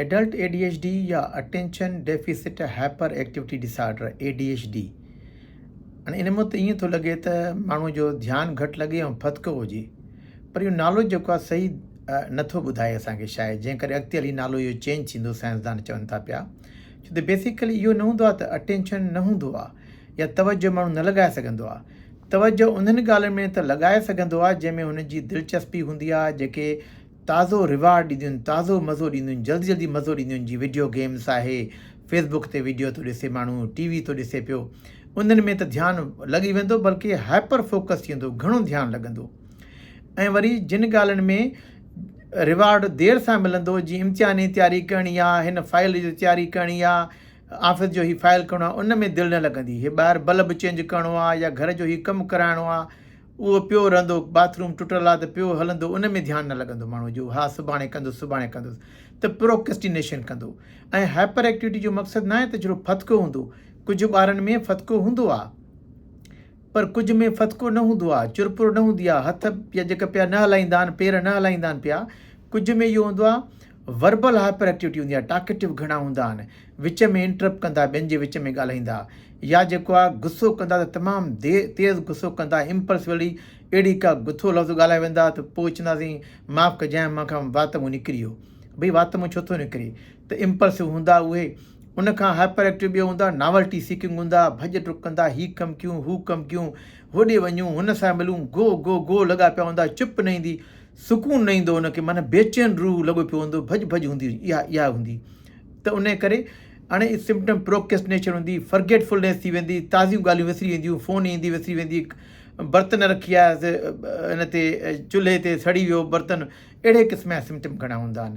adult A D H D يا attention deficit hyperactivity disorder A D H D هاڻي ان مت ائين ٿو لڳي ته ماڻهو جو ڌيان گهٽ لڳي ۽ ڦٿڪو هجي پر اهو نالو جيڪو آهي صحيح نٿو ٻڌائي اسانکي شايد جنهن ڪري اڳتي هلي نالو اهو چينج ٿيندو سائنسدان چون ٿا پيا ڇو ته بيسيڪلي اهو نه هوندو آهي ته اٽينشن نه هوندو آهي يا توجه ماڻهو نه لڳائي سگهندو آهي توجه انهن ڳالهين ۾ ته لڳائي سگهندو آهي جنهن ۾ هن جي دلچسپي هوندي آهي جيڪي تازو ريوارڊ ڏينديون تازو مزو ڏينديون جلدي جلدي مزو ڏينديون جي وڊيو گيمس آهي فيس بڪ تي وڊيو ٿو ڏسي ماڻهو ٽي وي ٿو ڏسي پيو انهن ۾ ته ڌيان لڳي ويندو بلڪه هائپر فوڪس ٿي ويندو گهڻو ڌيان لڳندو ۽ وري جن ڳالهين ۾ ريوارڊ دير سان ملندو جي امتحان جي تياري ڪرڻي آ هن فائل جي تياري ڪرڻي آ آفيس جو هي فائل ڪرڻو آ ان ۾ دل نه لڳندي هي ٻاهر بلب چينج ڪرڻو آ يا گهر جو هي ڪم ڪرائڻو آ اهو پيو رهندو، باٿ روم ٽٽل آ ته پيو هلندو ان ۾ ڌيان نه لڳندو ماڻهو جو ها سڀاڻي ڪندس سڀاڻي ڪندس ته پروڪسٽينيشن ڪندو ۽ هائپر ايڪٽيوٽي جو مقصد ناهي ته جھڙو ڦٿڪو هوندو ڪجھ ٻارن ۾ ڦٿڪو هوندو آ پر ڪجھ ۾ ڦٿڪو نه هوندو آ چرپر نه هوندي آ هٿ يا جيڪا پيا نه هلائيندا آهن پير نه هلائيندا آهن پيا ڪجھ ۾ اهو هوندو آ وربل هائپر ايڪٽيوٽي هوندي آهي، ٽاڪيٽو گهڻا هوندا آهن، وچ ۾ انٽرپٽ ڪندا، ٻين جي وچ ۾ ڳالهائيندا يا جيڪو آهي غصو ڪندا ته تمام تيز غصو ڪندا، امپلسولي اهڙي ڪا گٿو لفظ ڳالهائي ويندا ته پوء چونداسين معاف ڪجانء مان کان وات مون نڪري ويو، ڀئي وات مون ڇو ٿو نڪري ته امپلسو هوندا اهي، ان کان هائپر ايڪٽيو ٻيو هوندا ناولٽي سيڪنگ هوندا، ڀڄ ڊڪ ڪندا، هي ڪم ڪيون، هو ڪم ڪيون، هوڏي وڃون، هن سان ملون، گو گو گو لڳا پيا هوندا، چپ نه ايندي، سڪون نه ايندو ان کي معنيٰ بيچين روح لڳو پيو هوندو ڀڄ ڀڄ هوندي هجي اها اها هوندي ته انهي ڪري اڻي سمپٽم پروڪيسٽنيشن هوندي فرگيٽ فلنيس ٿي ويندي تازيون ڳالهيون وسري وينديون فون ايندي وسري ويندي برتن رکي آيا سي ان تي چلهي تي سڙي ويو برتن اهڙي قسم جا سمپٽم گهڻا هوندا آهن